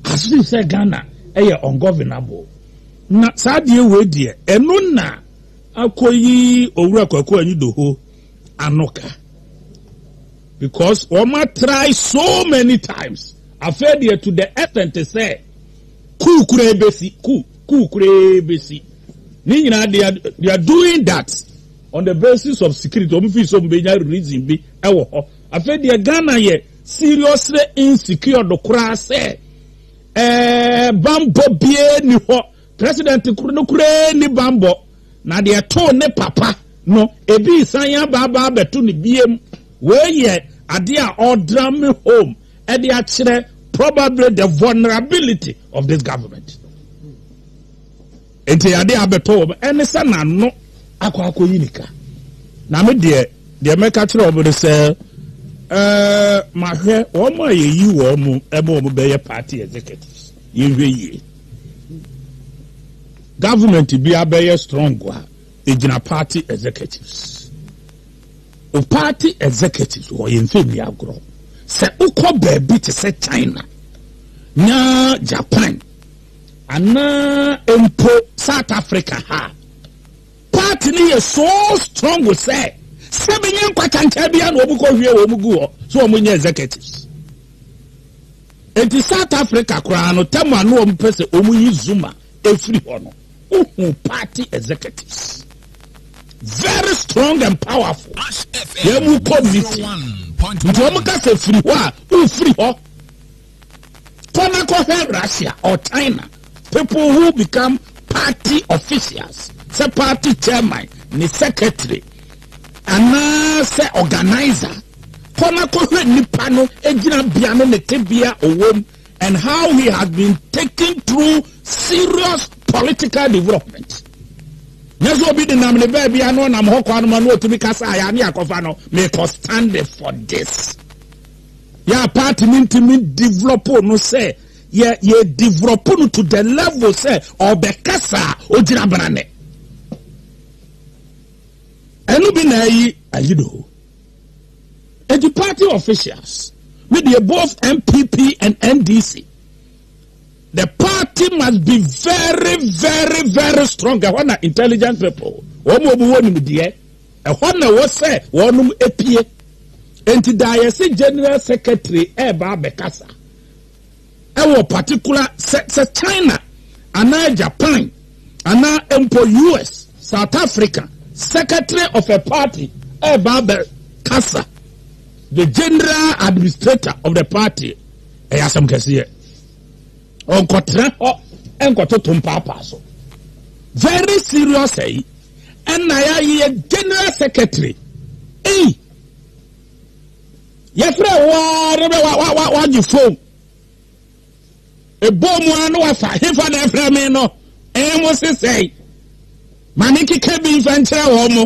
As if sɛ Ghana yɛ ungovernable na saa adeɛ wei deɛ ɛno na akɔyi Owura Kwaku Anyidoho ano ka because wɔn atrae so many times afei deɛ to the extent sɛ kuu koraa bɛsi kuu kuu koraa bɛsi ne nyinaa they are they are doing that on the basis of security wɔn fi so wɔn bɛnya reason bi ɛwɔ hɔ afei deɛ Ghana yɛ. seriously insecure do koraa sɛ ɛɛ bambɔ bie ni hɔ president koro no koraa ni bambɔ na deɛ too ne papa no ebi san aba aba abɛto ne biem wei yɛ adeɛ a ɔdrame home ɛde akyerɛ probably the vulnerability of this government Enti ade a abɛtɔ wɔn ne sɛ n'ano akɔ akɔyi ne ka. Na me deɛ, deɛ mɛka kyerɛ wɔn ne sɛ, Eh, mahwɛ wɔn a yɛyi wɔn mo ma wɔn bɛyɛ party executives. Yɛnhwɛ yie. Government bi abɛyɛ strong a, ɛgyina party executives. O party executives wɔ yɛn mfɛ nni agorɔ. Sɛ wokɔ baabi te sɛ China na Japan, Anaa mpo South Africa ha a, party no yɛ so strong sɛ sɛ bɛnya nkwakyɛnkyɛn biara na wɔkɔhwie wɔn gu hɔ sɛ wɔnyɛ executives. Enti South Africa koraa no, tɛm a na wɔpɛ sɛ wɔyi Zuma ɛfiri hɔ no, wohu party executives very strong and powerful yɛn mu committee nti wɔn ka sɛ firi hɔ a wofiri hɔ. Kɔ na kɔhwɛ Russia or China, people who become party officials, sɛ party chairman ne secretary anaasɛ organiser. Kɔ na kɔhwɛ nipa no gyinabea no ne tebea a ɔwɔ mu and how he has been taken through serious political development. Nyɛ sɛ obi denam ne baabi a na ɔnam hɔ kɔ anoma na ɔtumi kasa a yɛa ne yɛakɔfa no, mekɔ stand for this. Yɛ a party no ntumi develop no sɛ yɛ yɛ develop no to the level sɛ ɔbɛkasa a ogyina branne. Ɛno bi na ayi ayi do. Eti party officials, me deɛ both NPP and NDC, the party must be very very very strong. Ɛhɔ na intelligence people wɔn a wɔwɔ nimdeɛ. Ɛhɔ na ɛwɔ sɛ wɔnom pue. Enti Dayɛse General Secretary reba abɛkasa wɔ particular sɛ sɛ China anaa Japan anaa mpo US, South Africa Secretary of a party reba abɛkasa, the General Administrator of the party, ɛyɛ asɛm kɛseɛ. Ɔnkɔtena hɔ nkɔtoto mpaapaa so. Very serious ɛyi. Eh? Ɛna yɛayɛ general secretary. Ei! Eh? Yɛfrɛ waa ne bɛ wagye fon. Ɛbɔ mu a na wafa hefa na ɛfrɛ me no. Ɛmo eh, sesɛe. Ma ne keka bi mfa nkyerɛ wɔn mo.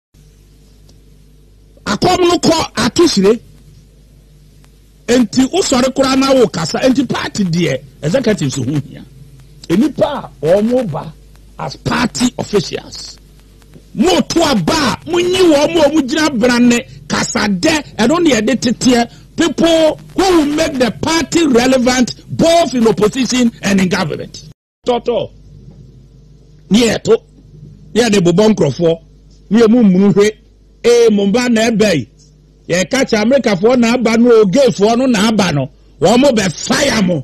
akɔm no kɔ ato hyire nti wosɔre koraa na wo kasa nti party deɛ executives ho hia nnipa a wɔn ba as party officials mo to aba a mo nyi wɔn a wɔn gyina brane kasadɛ ɛno na yɛde teteɛ people who will make the party relevant both in opposition and in government. tɔtɔ ne yɛto ne yɛde bobɔ nkurɔfoɔ ne yɛ mu mmunu hwe ee mo mba na ɛbɛ yi yɛka kyɛ amerikafoɔ na aba no o gayfoɔ no na aba no wɔn mo bɛ faya mo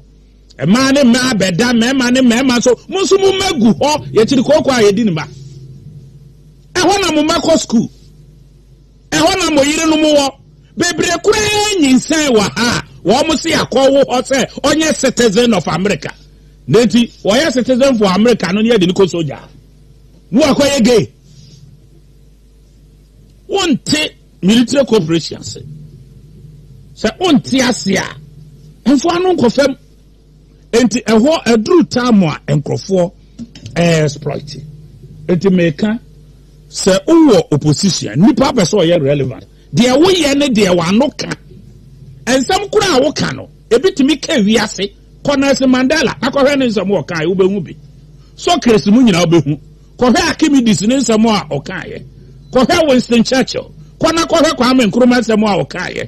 mmaa ne mmaa bɛda mmarima ne mmarima so mo nso mo mma gu hɔ yɛkyiri kooko a yɛdi ne mma ɛhɔ na mo mma kɔ sukuu Ɛhɔ na mo yerenom wɔ. Bebree koraa nyinsɛn wɔ ha a wɔse yɛakɔwo hɔ sɛ ɔnyɛ citizen of America. Na enti wɔyɛ citizen for America no ne yɛde no kɔ sogya a na wakɔyɛ gay. Wonte military cooperation ase. Sɛ wonte ase a, mfa ano nkɔ fam. Enti ɛhɔ aduru time a nkurɔfoɔ exploit. Enti meka sɛ wowɔ opposition nipa apɛ sɛ ɔyɛ relevant deɛ woyɛ ne deɛ w'ano ka nsɛm koro a woka no ebi tumi ka wiase kɔ Nelson Mandela na kɔhwɛ ne nsɛm ɔkaeɛ wobɛhu bi Socrates mu nyinaa wobɛhu kɔhwɛ Archimedes ne nsɛm a ɔkaeɛ kɔhwɛ Winston Churchill kɔ na kɔhwɛ Kwame Nkrumah nsɛm a ɔkaeɛ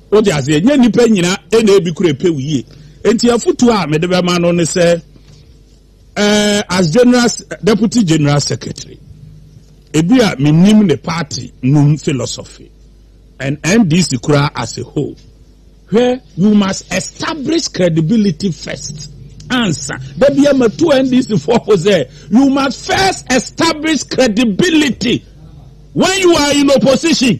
Wote aseɛ? Ɛnyɛ nnipa nyina na ebi kura pɛ wo yie. Enti afotuo a mede bɛma no ne sɛ, eh, as general, deputy general secretary, ebi a menim ne party nom philosophy and NDC koraa as a whole, hwɛ, you must establish credibility first ansa. Da bia matu NDC foɔ po sɛ, you must first establish credibility when you are in opposition.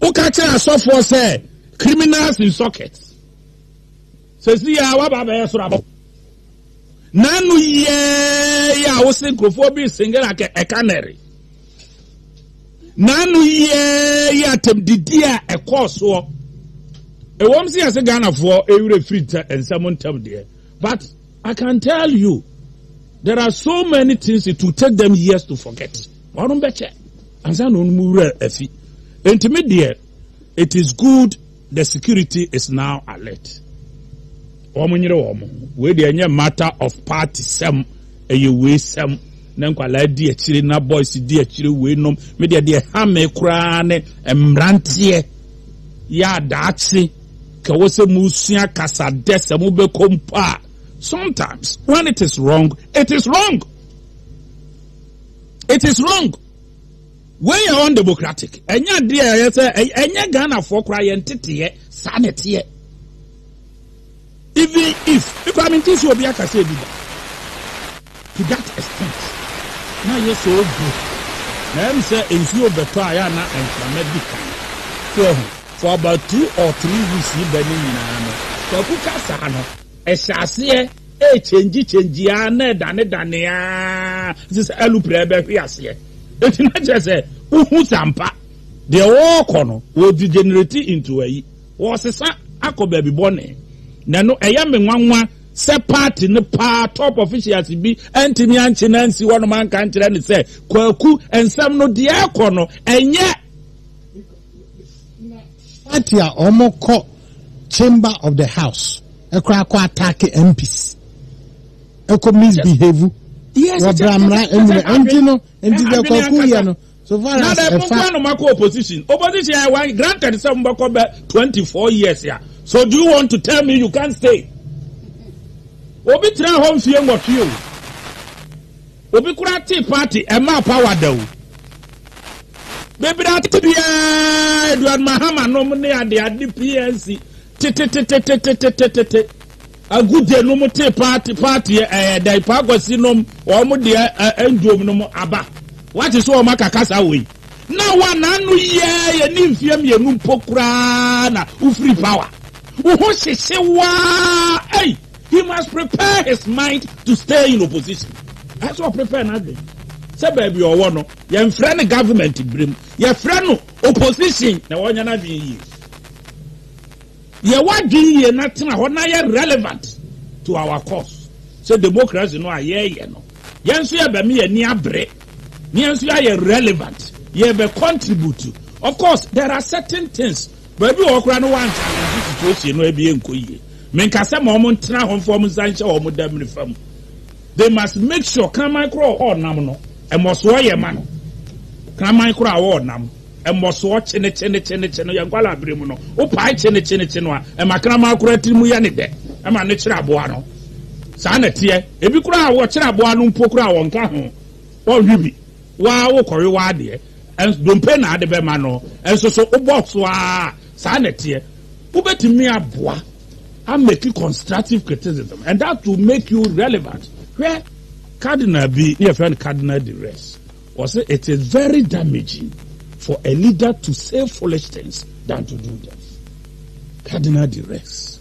Woka kyerɛ asɔfoɔ sɛ criminals in sockets. Sɛsi yɛ a waba abɛyɛ soro abɔ. N'ano yɛɛ yɛ a wo se nkurɔfoɔ bi singere a ɛka nɛre. N'ano yɛɛ yɛ atɛmdidi a ɛkɔɔ soɔ. Ɛwɔm sɛ yɛse Ghanafoɔ ɛwerɛ firi nsɛm ntɛm deɛ but I can tell you there are so many things it will take them years to forget. Wɔnom bɛkyɛ ansa na wɔnom wura afi. Enti me deɛ, it is good the security is now alert. Wɔn nyere wɔn ho. Wei deɛ ɛnyɛ matter of party sɛm, ɛyɛ wei sɛm. Na nkwadaa di akyire na boys di akyire wei nom. Me deɛ deɛ ha me koraa ne mmeranteɛ yɛ adaakye ka wɔ sɛ mo sua kasa dɛ sɛ mo bɛkɔ mpo a sometimes when it is wrong it is wrong. it is wrong wei yɛ undemocratic ɛnyɛ adeɛ a ɛyɛ sɛ ɛnyɛ ghanafoɔ koraa yɛn teteɛ saa na ɛteɛ even if mekora me nti so obi aka sɛ ebi da to that extent na yɛ sɛ ogu na ɛm sɛ nsuo bɛtɔ a yɛ na nkrama di kan so ɛho for about two or three weeks yi bɛ ne nyinaa no kwaku kasa no Ɛhyɛ aseɛ ɛɛkyɛngyi kyɛngyi aa na ɛdane dane aa te sɛ alupre ɛɛbɛhwe aseɛ. Enti na kyerɛ sɛ wohu sɛ ampa deɛ wɔɔkɔ no wɔ degenerate into ayi, wɔɔsesa akɔ baabi bɔne. Na ɛno ɛyɛ me nwanwa sɛ party no paa top officials bi antumi ankye no ansi hɔnom anka ankyerɛ no sɛ Kwaku nsɛm no deɛ ɛɛkɔ no ɛnyɛ party a wɔn kɔ chamber of the house ɛkora akɔ attack mps ɛkɔ misbehave wɔ bramra ɛnyina ɛnti no ɛnti dɛ kwaku yɛ no so far as ɛfa. na dɛ kɔnkɔn nom akɔ opposition opposition yɛ wa granted sɛ mo bɛ kɔ bɛ twenty four years ya so do you want to tell me you can stay obi tena hɔ nfie nwɔtwe o. Obi koraa tee party ɛmaa power da o. Bebree ate biaa aduan mahama nom ne ade ade PNC tetetetetetetetete agudze nom tee party party ɛyɛ dɛn paa kwasi nom wɔn deɛ ɛnduom nom aba wate so wɔn aka kasa wei na wa n'ano yiaa yɛ ne mfie mmienu mpo koraa na wofiri power wo ho hyehye waa ei. He must prepare his mind to stay in opposition. Ɛsɛ sɛ ɔprepare n'adwene sɛ baabi a ɔwɔ no, yɛmfrɛ no government bere mu, yɛfrɛ no opposition na wɔnyɛ n'adwene yie. Yɛ w'adwene yie na tena hɔ na yɛ relevant to our cause. Sɛ democracy no a yɛreyɛ no, yɛn nso yɛbɛma yɛn ani abere na yɛn nso yɛayɛ relevant, yɛbɛ contribute. Of course, there are certain things Baabi wɔ hɔ koraa na wɔanhyɛ asase situation no abie nkɔ yie. Menka sɛ ma wɔntena hɔ mfa wɔn nsa nhyɛ wɔn damiri fa mu. They must make sure kraman koro a wɔrenam no, mmɔsoɔ yɛ ma no. Kraman koro a wɔrenam, mmɔsoɔ kyenekyenekyenekye no, yɛn nkwadaa bere mu no, wopae kyenekyenekye no a, ɛma kraman koro atiri mu yɛ ne dɛ, ɛma no kyere aboa no. Saa na ɛteɛ. Ebi koraa a wɔkyere aboa no mpo koraa wɔnka ho, wɔnhwe bi. Woaa wo kɔwe woaa deɛ ɛns dompe na ade bɛma no nso so wo box woaa saa na ɛteɛ wobɛtumi aboa a make constructive criticism and that will make you relevant hwɛ cardinal bi ne yɛfrɛ no cardinal de res ɔse it is very damaging for a leader to say foolish things than to do them cardinal de res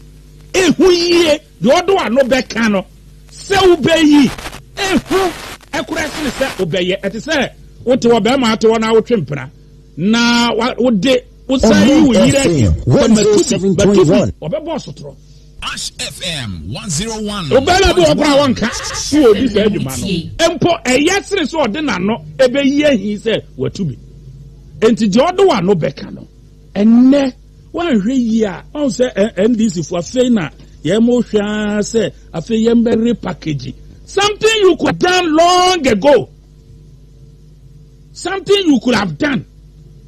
ɛhu yie Deɛ ɔde ano bɛka no sɛ wobɛyi ehu koraa sene sɛ wobɛyɛ. Ɛte sɛ wote ɔbarima ate hɔ na wotwe mpena na wode wosan yi wo yere akyi sɛ matu bi, matu bi, ɔbɛbɔ ɔsotorɔ. Ash FM 101. Ɔbarima bi wɔ hɔ koraa wɔnka sɛ ɔdi saa adwuma no mpo, ɛyɛ sene sɛ ɔde n'ano bɛyi ahi sɛ watu bi. Enti deɛ ɔde w'ano bɛka no ɛnnɛ. Woanhwɛ yie a, woahu sɛ NDC foɔ afei na yɛn mo hwɛ ara sɛ afei yɛn bɛ repackage something you could done long ago. Something you could have done.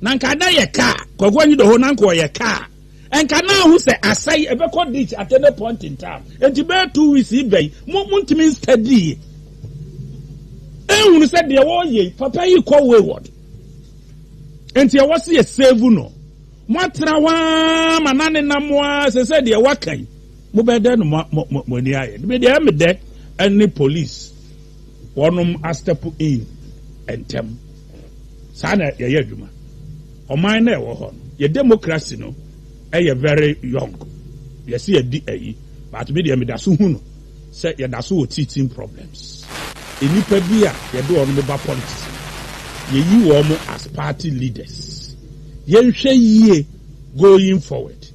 Na nka ada yɛ kaa, kɔkɔ nyi dɔhɔ na nka ɔyɛ kaa. Nka na ahu sɛ asa yi ɛbɛkɔ ditch at any point in time. Enti bɛyɛ two weeks yi bɛyi, mo mo ntumi nstadi yi. Ehunu sɛ deɛ wɔyɛ yi, papa yi kɔ wayward. Enti ɛwɔ sɛ yɛ save no. Moatra hɔ ara ma na nenam mo ara sɛ sɛ deɛ waka yi mobɛyɛ dɛn no mo ani ayɛ me deɛ me dɛ ɛne police wɔnom a step in ntɛm saa na yɛyɛ adwuma ɔman na ɛwɔ hɔ no yɛ democracy no ɛyɛ very young yɛsi yɛdi ayi but me deɛ meda so hu no Sɛ yɛda so wɔ teaching problems, nnipa bi a yɛde wɔn bɛba politics no, yɛyi wɔn as party leaders. Yɛnhwɛ yie going forward.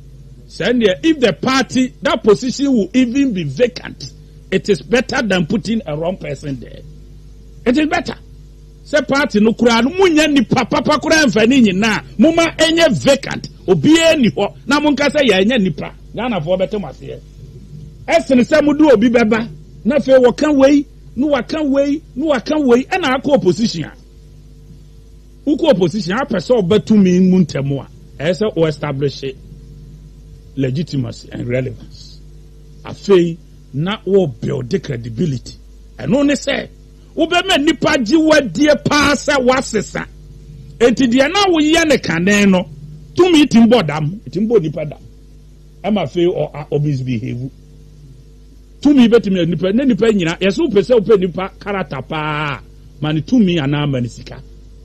Sɛ ɛnneɛ, if the party, that position will even be vacant, it is better than putting a wrong person there. It is better. Sɛ party no koraa no mo nya nipa papa koraa nfa ne nyinaa mo ma ɛnyɛ vacant obiaa nni hɔ na mo nka sɛ yɛ anya nipa Ghana foɔ bɛte mo aseɛ ɛsene sɛ mo de obi bɛba na afei wɔ ka wei na wa ka wei na wa ka wei ɛna akɔ opposition a wo kɔ opposition a apɛ sɛ ɔba tumi mu ntɛmo a ɛyɛ sɛ o establish legitimacy and relevance afei na wɔ build credibility ɛno ne sɛ Wobɛma nnipa agye wo adie paa sɛ woasesa. Enti deɛ na woyɛ no kane no tumi tumi bɔ dam. Ɛtumi bɔ nnipa dam. Ɛma afei ɔ, a, ɔmisbehave. Tumi bɛtumi ayɛ nnipa, na nnipa nyina. Yɛsɛ wopɛ sɛ wopɛ nnipa karata paa a, ma no tumi anaa ma no sika.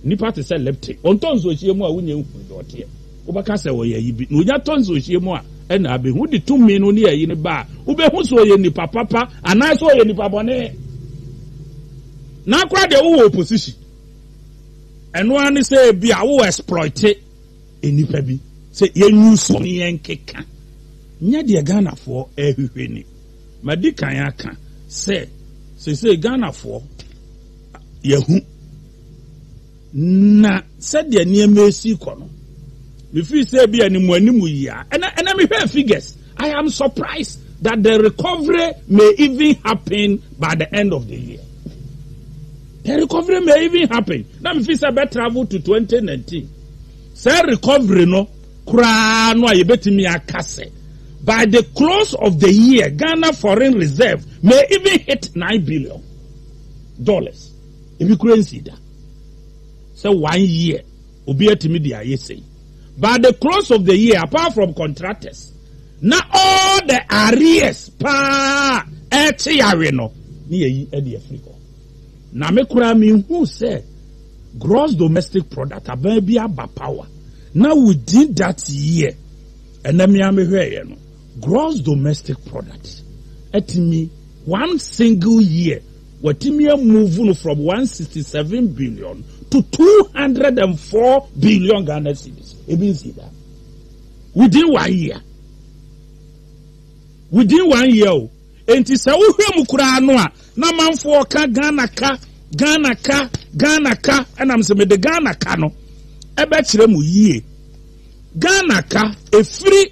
Nnipa te sɛ leptic. Wɔntɔ nsuohyeɛ mu a wonnya nhunu deɛ ɔteɛ. Wobɛka sɛ ɔyɛ ayi bi na onya tɔ nsuohyeɛ mu a, ɛnna abɛhu de tumi no ne ayi no ba a, wobɛhu sɛ ɔyɛ nipa papa anaa sɛ ɔyɛ nipa bɔne. Na koraa deɛ wowɔ opposition. Ɛno ara ne sɛ ebi a wowɔ exploite nnipa bi sɛ yɛnyusu ne yɛnkeka. Nyɛ deɛ Ghanafoɔ ɛrehwehwɛ ni. Madi kan aka sɛ seesei Ghanafoɔ yɛahu. Na sɛdeɛ nneɛma resi rekɔ no, mefiri sɛ ebi a ne mu anim yi a, ɛna ɛna mehwɛ figures. I am surprised that the recovery may even happen by the end of the year. The recovery may even happen. Na mefiri sɛ bɛ travel to 2019. Sɛ recovery no koraa no a yɛbɛtumi aka sɛ by the close of the year Ghana foreign reserve may even hit 9 billion dollars. Ebi koraa nsii da sɛ one year obi atumi de ayɛ sei but the cross of the year apart from contractors na all the arrears paa ɛkye yawe no ne yɛyi ɛde afiri hɔ na me koraa me hu sɛ gross domestic product aban bi aba power na within that year ɛnɛ me a mehwɛeɛ no gross domestic product atumi one single year Watumi a move no from one sixty seven billion to two hundred and four billion Ghana cedis. Ebi nsi da. Within one year. Within one year o. Enti sɛ wohwɛ mu koraa no a na manfoɔ ka Ghana ka Ghana ka Ghana ka ɛnam sɛ mede Ghana ka no ɛbɛkyerɛ mu yie. Ghana ka efiri.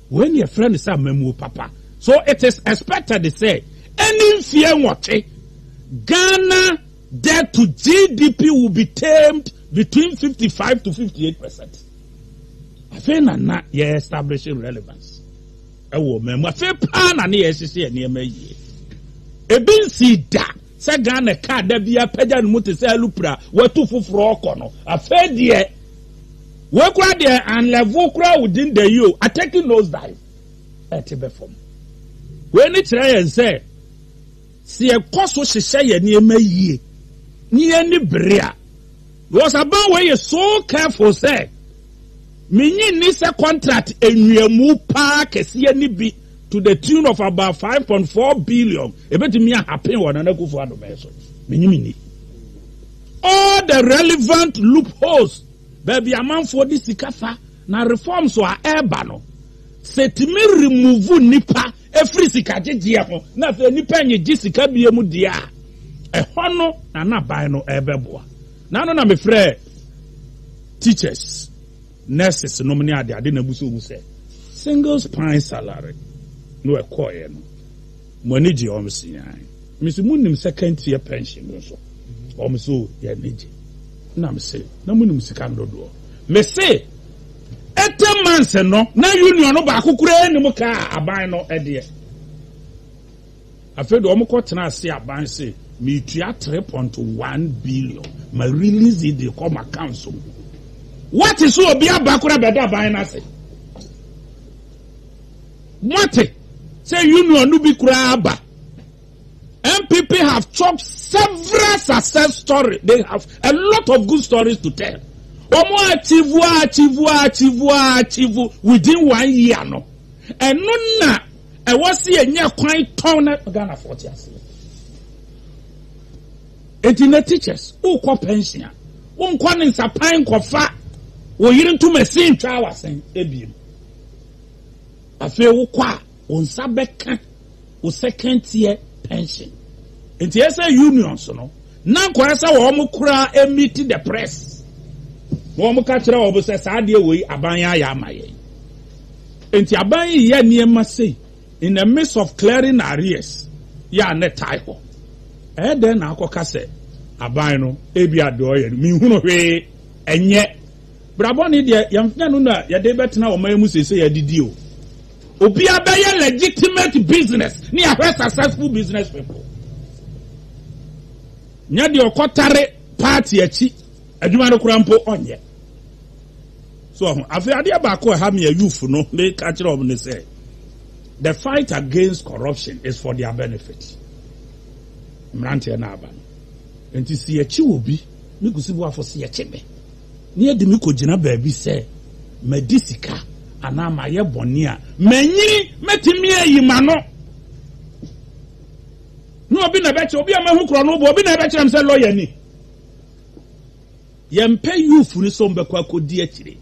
Wei na yɛfrɛ no sɛ amammuo papa. So it is expected sɛ ɛnni mfeɛ nwɔtwe Ghana debt to GDP will be tamed between fifty five to fifty eight percent. Afei na na yɛ establish relevance ɛwɔ ɔman mu. Afei paa na ne yɛhyehyɛ nneɛma yie. Ebi nsii da. Sɛ Ghana kaa da biara pagya ne mu te sɛ alupre a watu foforɔ rekɔ no, afei deɛ wei koraa deɛ anlɛvo koraa wo din da yi o, atɛki nose dive ɛte bɛ fam. Wei ne kyerɛ yɛn sɛ sɛ yɛkɔ so hyehyɛ yɛn nneɛma yie ne yɛni bere a because aban wei yɛ so careful sɛ menyi nni sɛ contract nnuamu paa kɛseɛ ne bi to the tune of about five point four billion ebetumi ahapen wɔ nana akufo adomɛ so menyi mi ni all the relevant loopholes baabi amanfoɔ de sika fa na reforms a ɛreba no sɛ tumi remove nipa efiri sika gyegyeɛ ho na afei nipa nyegye sika bie mu deɛ a ɛhɔ no na n'aban no ɛrebɛboa n'ano na mefrɛ teachers. nurses nom ne ade ade na ebu so hu sɛ singles pine salary no ɛkɔɔɛ no mo ani gye ɔm se ae mese mo nim second tier pension no nso ɔm se o yɛ ani gye na mese na mo nim sika no dodoɔ mese ɛtɛ months no na union no baako koraa nim kaa aban no ɛdeɛ Afei de wɔkɔ tena ase aban se me tua three point one billion ma release yi de kɔ m'account so. Wate se obi aba kora bɛda aban no ase? Moate se union no bi kora aba? NPP have chopped several success story, they have a lot of good stories to tell. Omo achieve achieve achieve achieve within one year no. Eno na Ɛwɔ se yɛnya kwan tɔn na Ghanafoɔ te aseɛ. Enti na teachers, wokɔ pension a, wonkɔ ne nsapan nkɔfa wo yere ntom asin ntwaa w'asen ebiem. Afei wokɔ a, wo nsa bɛka wo second tier pension. Enti ɛyɛ sɛ unions no, na anka ɔyɛ sɛ wɔn koraa meet the press na wɔka kyerɛ wɔn sɛ saa adeɛ wei aban ayɛ ama yɛn. Enti aban yi yɛ nneɛma sei in the midst of clearing arrears yɛ a na ɛtae hɔ. Ɛyɛ dɛn na akɔka sɛ aban no ebia deɛ ɔyɛ no menhunu hwee ɛnyɛ. Bra bɔne deɛ yɛmfnyɛ no na yɛde bɛtena ɔman mu seesei adidi o. Obiara bɛyɛ legitimate business na yɛahwɛ successful business people. Nyɛ deɛ ɔkɔtare party akyi adwuma no koraa mpo ɔnyɛ. So ho? Afei adeɛ baako a ɛha me a youth no meka kyerɛ wɔn ne sɛ the fight against corruption is for their benefit. Mmeranteɛ no aba no. Nti si yɛkye wɔ bi me kusiboafo si yɛkye me ne yɛde me kɔgyina baabi sɛ madi sika anaa mayɛ bɔne a manyini mɛtumi ayi ma no na obi na ɛbɛkyerɛ obi a mahu korɔ no wobɔ obi na ɛbɛkyerɛ m sɛ lɔya ni Yɛmpɛ youth no sɛ wɔn bɛkɔ akɔdi akyire.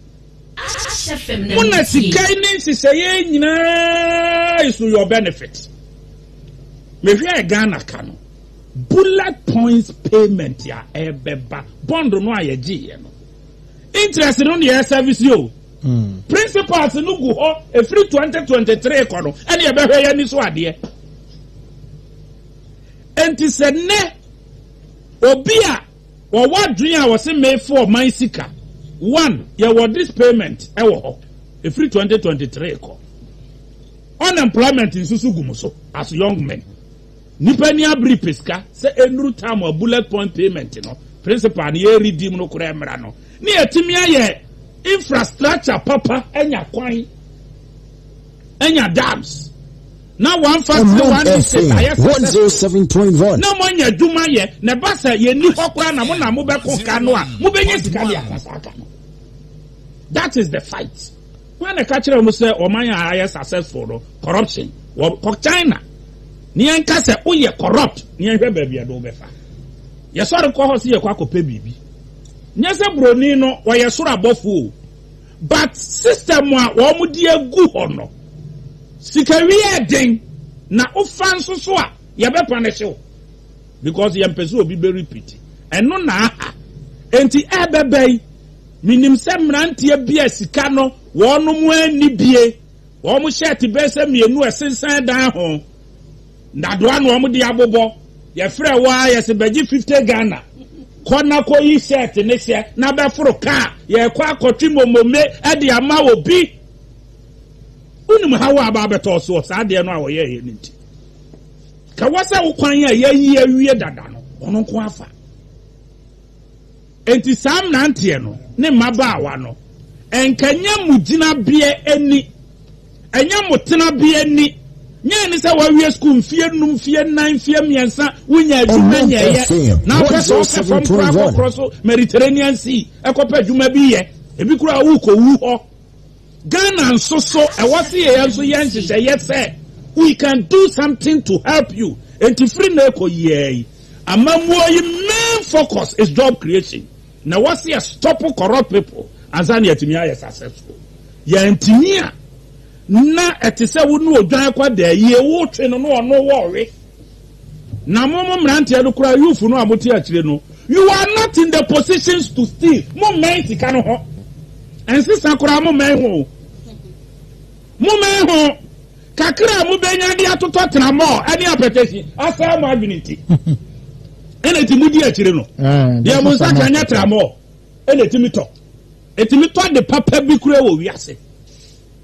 Mo na sika yi ne nhyehyɛeɛ yi nyinaa is to your benefit. Mehwɛɛ Ghana ka no, bullet points payment a ɛbɛba, bond no a yɛgyeeɛ no, interest no na yɛresɛvese o. Principals no gu hɔ ɛfiri 2023 kɔ no ɛne yɛbɛhwɛ yɛn ani so adeɛ. Enti sɛ nnɛ obi a Wɔ wɔ adwene a wɔse mefe ɔman sika one yɛ wɔ this payment wɔ hɔ ɛfiri twenty twenty three kɔ unemployment nso so gu mo so as young men nipa ni abiri pɛ sika sɛ ɛnuru time a bullet point payment no principal no yɛ redeem no koraa mmra no ne yɛtumi ayɛ infrastructure papa anya kwan anya dams na wɔamfa Ɔman Tiwa ne State FM ayɛ successful 107.1. na moanya adwuma ayɛ na ɛba sɛ yɛnni hɔ koraa na mo na mobɛko ka no a mobɛnya sika de aka saa ka no that is the fight wọn na ɛka kyerɛ wɔn sɛ ɔman a ayɛ successful no corruption wɔ kɔ china ne yɛn ka sɛ woyɛ corrupt ne yɛn hwɛ baabi a ɛde wobɛfa yɛsɔre kɔ hɔ sɛ yɛkɔ akɔpɛ biribi nyɛ sɛ buroni no ɔyɛ soro abɔfo o But system a wɔn de agu hɔ no, sika wie yɛ den, na wo fa nso so a, yɛ bɛ punish wo. Because yɛn pɛ sɛ obi bɛ repeat. Ɛno na aha. Enti ɛbɛbɛ yi, me nim sɛ mmeranteɛ bi a sika no wɔn anni bie, wɔn shirt bɛyɛ sɛ mmienu ɛsensan dan ho. Ndadoa na wɔn de abobɔ. Yɛfrɛɛ wo ara yɛse bɛgye fifty Ghana. Kɔ na kɔyi shirt no hyɛ na bɛforo kaa. Yɛrekɔ akɔtwe momome de ama obi. Wonim haw a aba abɛtɔ wo so wɔ saa adeɛ no a wɔyɛeɛ no nti? Ka wɔ sɛ wo kwan a yɛayi awie dada no, ɔno nko ara fa. Enti saa mmeranteɛ no ne mmabaawa no, ɛnka ɛnyɛ mo gyinabeɛ ni, ɛnyɛ mo tenabeɛ ni, nyɛ ɛne sɛ woawie sukuu mfeɛ nnum, mfeɛ nnan, mfeɛ mmiɛnsa, wonnya adwuma nyɛeɛ, na wopɛ sɛ wokɔ fam koraa kɔkorɔ so Mediterranean Sea kɔpɛ adwuma bi yɛ, ebi koraa wokɔwu hɔ. Ghana nso so ɛwɔ se yɛn nso yɛ nhyehyɛeɛ sɛ we can do something to help you enti firi nnɛ rekɔ yiaa yi amammuo yi main focus is job creation na ɛwɔ se yɛ stop corrupt people ansa na yɛatumi ayɛ successful yɛantumi a na ɛte sɛ wo ne odwan kɔ daayie woretwe no na ɔno wɔ ɔwe. Na mo mo mmeranteɛ no koraa youth no a mo te akyire no you are not in the positions to steal mo mmɛn sika no ho ɛnsesa koraa mo mmɛn ho o mo mmɛn ho kakra a mo bɛnya de atotɔ tena mɔ ɛne apɛtɛsi asaa mo adwene nti ɛna ti mo di akyire no eh, deɛ mo nsa ka nyɛ tra mɔ ɛna ti mi tɔ ɛti mi tɔ de papa bi kura wɔ wiase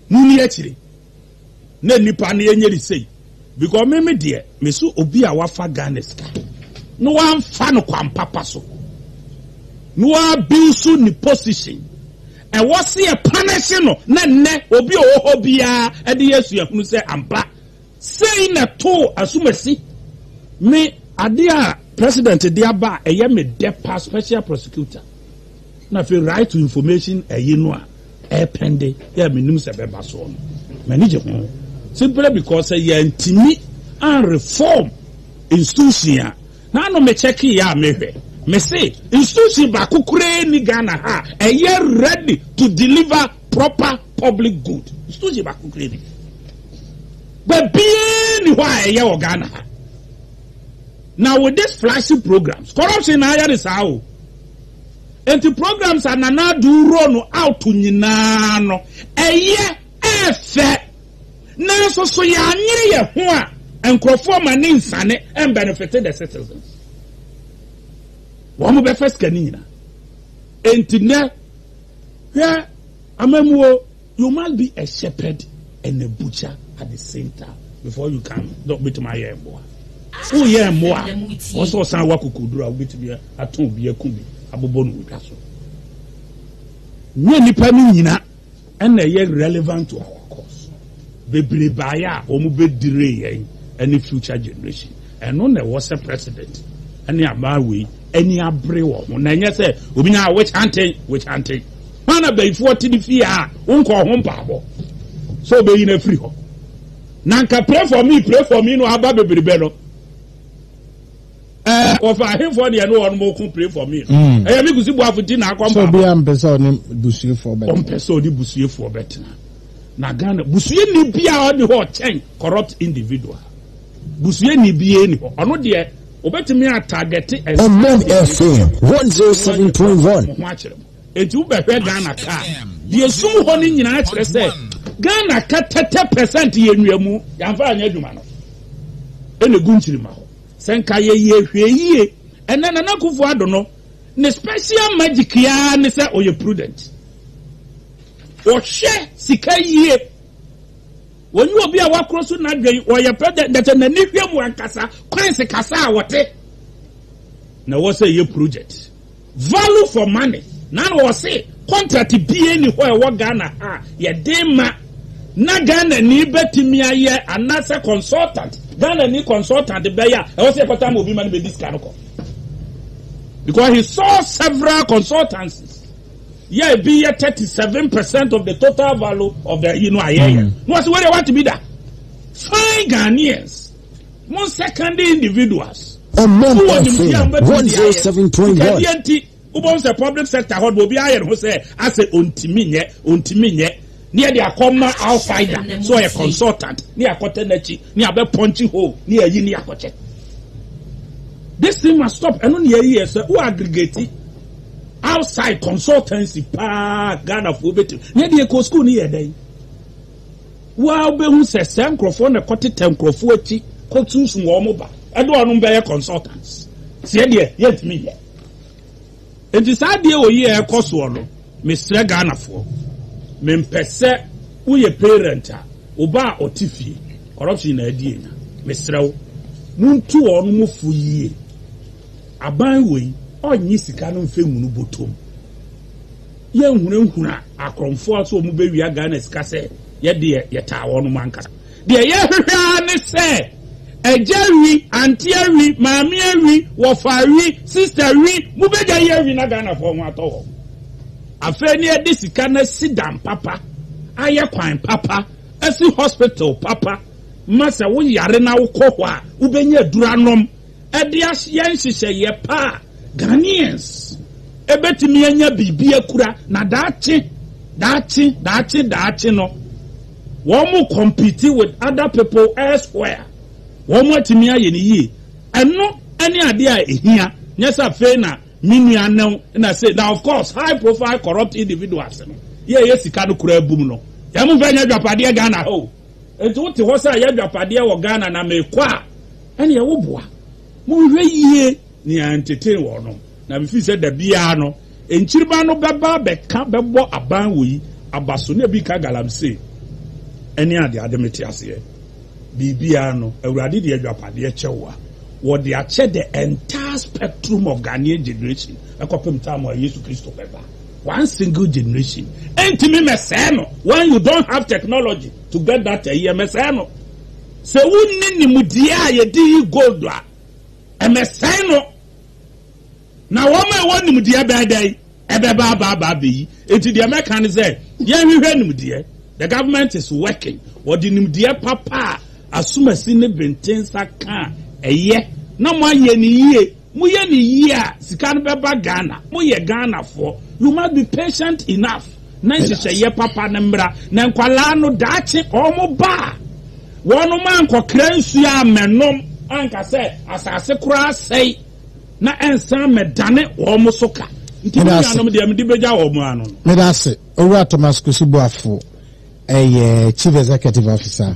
mo ni akyire. na nnipa no yɛnyɛ ne sei because me me deɛ me so obi a wafa Ghana sika na wamfa no kwan papa so na wabiw so ne position ɛwɔ se yɛ punish no na nnɛ obi a ɔwɔ hɔ biara ɛde yɛ suahunu sɛ ampa sei na too asumasi me ade a president de aba a ɛyɛ me dɛ pa special prosecutor na afei right to information ɛyi no a Ɛpɛnde yi a menim sɛ ɛbɛba soɔ no, m'ani gye ho simply because sɛ yɛantumi anreform institution a, na ano me kyɛkeeɛ a mehwɛ, mese institution baako koraa nni Ghana ha a ɛyɛ ready to deliver proper public good. Institution baako koraa nni. Baabiara nni hɔ a ɛyɛ wɔ Ghana ha. Na with this flashy programs, corruption na ayɛ ne saa o. Enti programs a Nana Addo roll no out nyinaa no, ɛyɛ, ɛyɛ fɛ. Nanso so yɛanyere yɛn ho a nkurɔfoɔ ma ne nsane ɛmbenefite the citizens? Wɔbɛfa sika no nyinaa. Enti nnɛ, hwɛ amammuo. You must be a shepherd and a butcher at the same time before you can dɛ wobɛtumi ayɛ mmoa. Woyɛ mmoa a, ɛwɔ sɛ ɔsan wɔ akokoduru a wobɛtumi atɔn obi aku bi abobɔ no wɔ dwa so. Nyɛ nnipa no nyina ɛna ɛyɛ relevant to our cause. Bebree baeɛ a wɔbɛdire yɛn ne future generation. Ɛno na ɛwɔ sɛ president ne aban wei ani abere wɔ ho na ɛnyɛ sɛ obi nyaa witch hunting, witch hunting. Hwan na bayifoɔ te ne fie a wonkɔɔ ho mpaabɔ sɛ ɔbɛyi no afiri hɔ? Na anka pray for me, pray for me no aba bebrebe no. Ɛɛ wɔfa ahenfoɔ deɛ ne wɔn mo ko pray for me no. Mm. Ɛyɛ me kusi buafo ti na akɔ mpaabɔ. Sɛ obi a mpɛ sɛ ɔne busuefoɔ bɛtena. Ɔmpɛ sɛ ɔne busuefoɔ bɛtena. Na Ghana busueni bi a ɔne hɔ ɔkyɛn corrupt individual. Busuani biara nni hɔ. Ɔno deɛ obetumi a targete Ɔbɔn FM one zero seven point one. Mo ho akyere mo. Enti wo bɛhwɛ Ghana ka a, deɛ esum hɔ no nyinaa kyerɛ sɛ Ghana ka tɛtɛ pɛsɛnt yɛ nnua mu, yɛanfa anyɛ adwuma no, ɛna egu nkyirimma hɔ. Sɛ nka yɛ yɛ hwɛ yie, ɛnɛ Nana Akuffo Addo no ne special magic yi ara ne sɛ ɔyɛ prudent. Ɔhwɛ sika yie. Wɔnye obi a wɔakoro so n'adwen, wɔyɛ pɛ dɛ, na sɛ n'ani hwɛ mu ankasa, kwan se kasa a wɔte na ɛwɔ sɛ ɛyɛ project. Value for money. Na na wɔse contract biara nni hɔ a ɛwɔ Ghana ha a yɛde ma na Ghanani bɛtumi ayɛ anaasɛ consultant, Ghanani consultant bɛyɛ a ɛwɔ sɛ yɛkɔtaa ma obi ma no bɛdi sika no kɔ. Because he saw several consultancies. yɛ ebi yɛ thirty seven percent of the total value of the yi no a yɛyɛ mm. na wɔsi wɔde wɔate bi da fine ghanaians mo secondary individuals ɔmɔ mpɔfo one zero seven point one ɛdi ɛnti wobɛn sɛ public sector hɔ obi ayɛ ne ho sɛ asɛ ontimi nyɛ ontimi nyɛ ne yɛde akɔma outsider so ɔyɛ consultant ne akɔtɛ n'akyi ne abɛ pɔnkye hole ne ayi ne akɔkyɛ this thing must stop ɛno ne yɛyi yɛ sɛ wo aggregate. outside consultancy paa Ghana foɔ bɛtumi ne deɛ kɔ school no yɛ dɛn waa wobɛhu sɛ sɛ nkurɔfoɔ na kɔtetɛ nkurɔfoɔ akyi kɔtuusu wɔn ba ɛde wɔn bɛyɛ consultants seɛ deɛ yɛntumi yɛ nti saa deɛ wɔ yi a ɛkɔ soɔ no mesrɛ Ghanafoɔ mempɛ sɛ woyɛ parent a wo ba a ɔte fie corruption na adi anya mesrɛ wo montu wɔn mo fo yie Aban wei ɔnnye sika no mfɛ ngu no botom. Yɛ nhunahuna akorɔmfoɔ sɛ ɔmo bɛwia Ghana sika sɛ yɛ deɛ yɛ taa wɔn nom ankasa. Deɛ yɛ hwehwɛ ara ne sɛ Agya wi, Auntie awi, Maame awi, Wɔfa awi, Sister awi, mo bɛ gya yi awi na Ghanafoɔ ho atɔ wɔn. Afei ne yɛ de sika no asi dam papa, ayɛ kwan papa, asi hospital papa ma sɛ wo yare na wo kɔ hɔ a wo bɛnya aduro anom. de ayɛ nhyehyɛeɛ pa a, Ghanaians bɛtumi anya biribi akura, na daakye, daakye, daakye, daakye no, wɔn compete with other people elsewhere, wɔn atumi ayɛ no yie. Ɛno ne adeɛ a ɛhia, nyɛ sɛ afei na me nua no na sei. Na of course, high profile corrupt individuals no, yɛ a ɛyɛ sika no koraa bum no, yɛn mfa nyɛ adwapadeɛ Ghana ha o. Enti wote hɔ sɛ ayɛ adwapadeɛ wɔ Ghana na mekɔ a, ɛneɛ wo boa. Monhwɛ yie nea ntetee wɔn no, na mefiri sɛ da biara no, nkyiriba no bɛba abɛka bɛbɔ aban wɔ yi aba so, na ebi ka galamsey ɛne adeade mete aseɛ biribiara no, Awurade de adwapadeɛ kyɛ wo a, wɔde akyɛ the entire spectrum of Ghanaian generation ɛkɔpem time a Yesu Kristo bɛba. One single generation ɛntumi mɛsɛɛ no when you don't have technology to get that ɛyi ɛmɛsɛɛ no sɛ wonni nimdeɛ a yɛde yi gold a ɛmɛsɛɛ no na wɔn a ɛwɔ nimdeɛ bɛɛ dɛn ɛbɛba abaaba abɛyi eti deɛ mɛka ne sɛ yɛnhwehwɛ nimdeɛ the government is working wɔde nimdeɛ papa a asomasi ne benten nsa ka a ɛyɛ na mo ayɛ ne yie. Moyɛ no yie a sika no bɛba Ghana. Moyɛ Ghanafoɔ. You must be patient enough na nhyehyɛeɛ papa no mmra. Na nkwadaa no daakye wɔba a, wɔn ankɔkra nsuo ammɛnom anka sɛ asase koraa asɛe na ɛnsan mmɛdane wɔn so ka. Nti me nuanom deɛ mede bɛgya wɔn ano no. Meda ase. Owura Thomas Kwesi Boafo yɛ Chief Executive Officer